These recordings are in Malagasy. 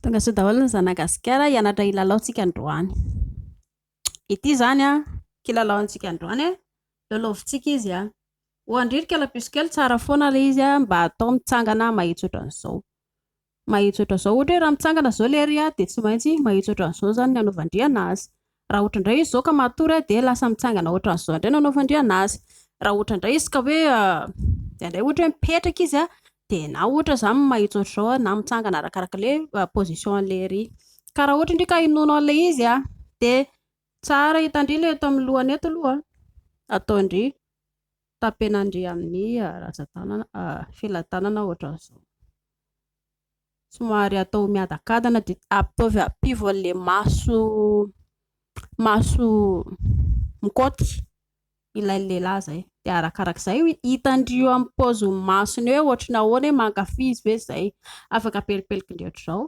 Tonga soa daholo ny zanagasikara hianatra hilalaontsika androany. Ity izany an, kilalaontsika androany an, lalaovintsika izy an. Ho andririka la puce kely tsara foana ilay izy an, mba atao mitsangana mahitsy ohatran'izao. Mahitsy ohatran'izao, ohatra hoe raha mitsangana izao ilay ry an, dia tsy maintsy mahitsy ohatran'izao izany ny hanaovan-dry an'azy. Raha ohatra indray izy izao ka matory aho dia lasa mitsangana ohatran'izao indray no anaovandriana azy. Raha ohatra indray izy ka hoe indraindray ohatra hoe mipetraka izy an, dia na ohatra izaho mahitsy ohatr'izao na mitsangana arakaraka ilay position an'ilay ery. Ka raha ohatra indray ka hinoana an'ilay izy an, dia tsara hitan-dry ilay eto amin'ny lohany eto aloha an, ataon-dry, tapenandry amin'ny ratsan-tanana, fehilahy tanana ohatran'izao. somary atao miadakadana dia ataovy ampivo an'ilay maso maso mikaoty ilay lehilahy izay dia arakarak'izay hitan-dry eo amin'ny paozin'ny masony eo ohatry ny ahoana hoe mankafy izy ve izay, afaka pelipelikin-dry ohatry izao,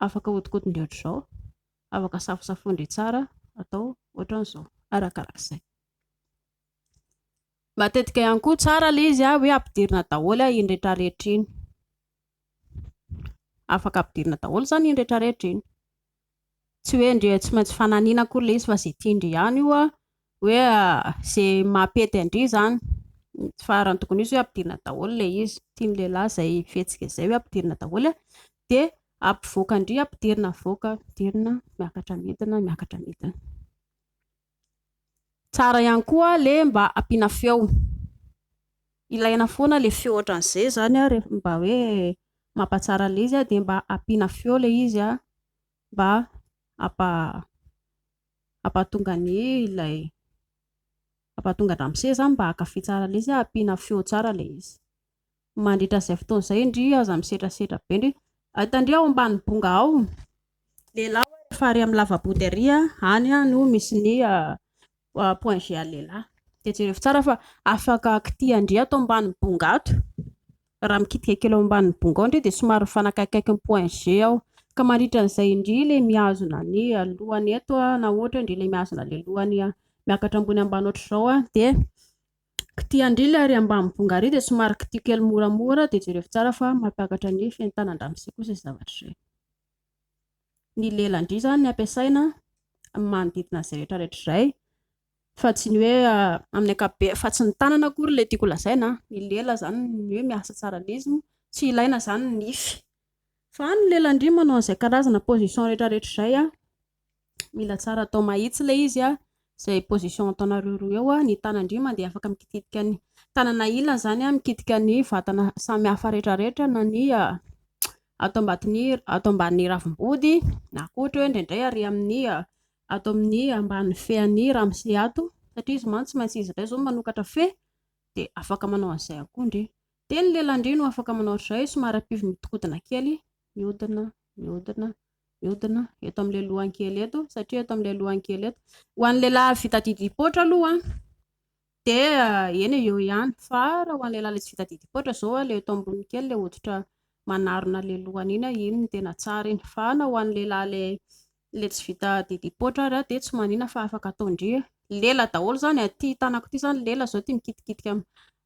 afaka ahodikotin-dry ohatry izao, afaka safosafoin-dry tsara atao ohatran'izao, arakarak'izay. Matetika ihany koa tsara ilay izy hoe ampidirina daholo iny rehetra rehetra iny. Afaka ampidirina daholo izany iny rehetra rehetra iny. Tsy hoe ndry tsy maintsy fananina akory ilay izy fa izay tian-dry ihany io an, hoe izay mampety an-dry izany. Fa raha ny tokony ho izy hoe ampidirina daholo ilay izy. Tian'ny lehilahy izay fihetsika izay hoe ampidirina daholo an, dia ampivoakan-dry ampidirina avoaka, ampidirina miakatra midina, miakatra midina. Tsara ihany koa le mba ampiana feo. Ilaina foana le feo otran'ze zany a rehefa mba hoe mampatsara le izy de mba ampiana feo le izy a mba hampa hampatonga ny ilay hampatonga andramose zany mba hankafy tsara le izy a ampiana feo tsara le izy. Mandritra izay fotoana izay, indry aza misetrasetra be indry. Ay tandria ao ambany bonga ao, lehilahy hoy rehefa ary amin'ny lavabody ary any no misy ny point G an'ny lehilahy. Dia jerevo tsara fa afaka kitiha ndry ato ambany bonga ato. Raha mikitika kely ao ambany bonga ao ndry dia somary mifanakaikaiky ny point G ao. Ka mandritra an'izay indry ilay mihazona ny lohany eto na ohatra indry ilay mihazona ilay lohany miakatra ambony ambany ohatr'izao dia K'ty andrily ary ambany bonga ary dia somary kitio kely moramora dia jerevo tsara fa mampiakatra ny fentanandramosia kosa izay zavatra izay. Ny lelan-dry izany ny ampiasaina amin'ny manodidina izay rehetra rehetra izay fa tsy ny hoe amin'ny akabe fa tsy ny tanana akory ilay tiako lazaina ny lela izany ny hoe miasa tsara lesy moa tsy ilaina izany ny nify fa ny lelan-dry manao an'izay karazana position rehetra rehetra izay Mila tsara atao mahitsy ilay izy a, izay position ataonareo roa eo a, ny tanan-dry mandeha afaka mikitika ny tanana ilany izany a, mikitika ny vatana samy hafa rehetrarehetra na ny ato ambaton'ny ato ambanin'ny ravim-body na koa ohatra hoe indraindray ary amin'ny ato amin'ny ambany fean'ny ramose ato satria izy mantsy tsy maintsy izy indray izao no manokatra fe dia afaka manao an'izay koa ndry. Dia ny lelan-dry no afaka manao an'izay somary ampivo-mihodinkodina kely, mihodina, mihodina. Mihodina eto amin'ilay lohankely eto, satria eto amin'ilay lohankely eto. Ho an'ny lehilahy vita didim-poatra aloha, dia eh, eny eo ihany. Fa raha ho an'ny lehilahy ilay tsy vita didim-poatra izao, ilay eto ambony kely, ilay hoditra manarona ilay lohany iny, iny no tena tsara iny. Fa na ho an'ny lehilahy ilay ilay tsy vita didim-poatra ary, dia tsy manina fa afaka ataon-dry. Lela daholo izany, ity tanako ity izany lela izao, ity mikitikitika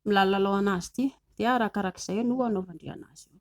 milalao an'azy ity. Dia arakarak'izay no hanaovan-dry an'azy eo.